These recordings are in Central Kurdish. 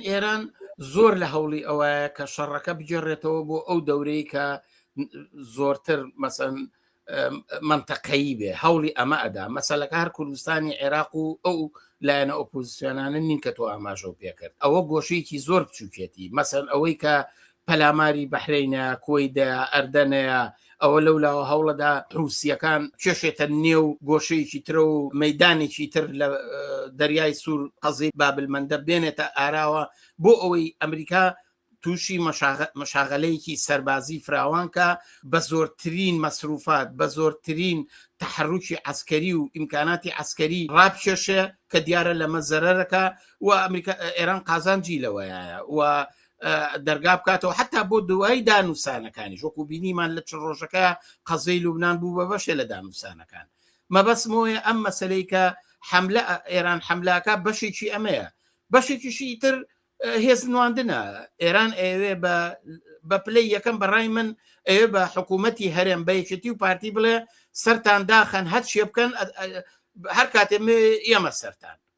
ئێران زۆر لە هەوڵی ئەوەیە کە شەڕەکە بگێڕێتەوە بۆ ئەو دەورەی کە زۆرتر مەسەن منتەقەیی بێ هەوڵی ئەمە ئەدا مەسەلەکە هەر کوردستانی عێراق و ئەو لایەنە ئۆپۆزیسیۆنانە نین کە تۆ ئاماژە و پێکرد ئەوە گۆشەیەکی زۆر بچووکێتی مەسەن ئەوەی کە پەلاماری بەحرەینە، کوەیدە، ئەردەنەیە، ئەوە لەو لاوە هەوڵەدا حوسییەکان بکێشێتە نێو گۆشەیەکی ترە و مەیدانێکی تر لە دەریای سوور قەزیی بابلمەندەب بێنێتە ئاراوە بۆ ئەوەی ئەمریکا تووشی مەشاغەلەیەکی سەربازی فراوان کا بە زۆرترین مەسروفات بە زۆرترین تحرکی عسکەری و ئیمکاناتی عسکەری ڕابکێشێ کە دیارە لەمە زەرەرەکە و ئەمریکا ئێران قازانجی لەوەیە و دەرگا بکاتەوە حتا بۆ دوایی دانوسانەکانی ژۆکو بینیمان لە چ ڕۆژەکە قەزەی لوبناان بوو بە بەشێ لە دانوسانەکان مەبەسمۆیە ئەم مەسلەی کە حملە ئێران حملاکە بەشێکی ئەمەیە بەشێکیشی تر هێز نواندنە ئێران ئەوێ بە بە پلەی یەکەم بەڕای من ئەوێ بە حکوومەتتی هەرێم بەیەکێتی و پارتی بڵێ سەران داخەن هەر شێ بکەن هەر کاتێ ئێمە سەران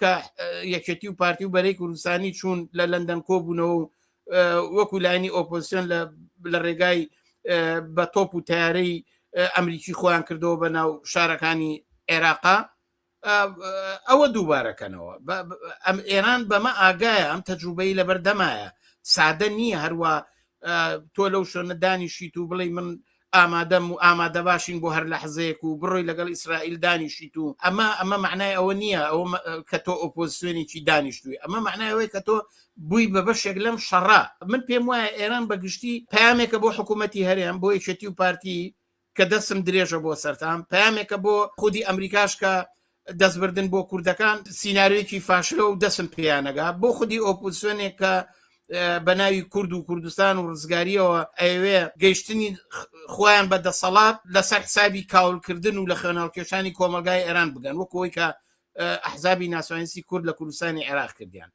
کە یەکێتی و پارتی و بەرەی کوردستانی چوون لە لەندەن کۆبوونەوە و وەکو لایانی ئۆپۆسیۆن لە ڕێگای بە تۆپ و تارەی ئەمریکی خۆیان کردەوە بە ناو شارەکانی عێراقا ئەوە دووبارەکەنەوە ئەم ئێران بەمە ئاگایە ئەم تەجروبەی لە بەردەمایە سادە نییە هەروە تۆ لەو شوێنە دانیشیت و بڵێ من ئامادەم و ئامادەباشین بۆ هەر لەحزەیەک و بڕۆی لەگەڵ ئیسرائیل دانیشیت و ئەمە ئەمە معنای ئەوە نییە ئەو کە تۆ ئۆپۆزسیۆنێکی دانیشتوی ئەمە معنای ئەوەی کە تۆ بووی بە بەشێک لەم شەڕە من پێم وایە ئێران بە گشتی پامێکە بۆ حکوومەتتی هەرێم بۆ یەکێتی و پارتی کە دەسم درێژە بۆ سەران پامێکە بۆ خودی ئەمریکاش کە دەستبردن بۆ کوردەکان سینناریوێکی فاشلە و دەسم پێیانەگا بۆ خودی ئۆپوسیۆنێک کە بە ناوی کورد و کوردستان و ڕزگاریەوە ئەوێ گەیشتنی خۆیان بە دەسەڵات لەسەر حسابی کاولکردن و لە خوێناڵکێشانی کۆمەلگای ئێران بگەن وەکەوەی کە ئەحزابی ناسوانسی کورد لە کوردستانی عێراق کردیان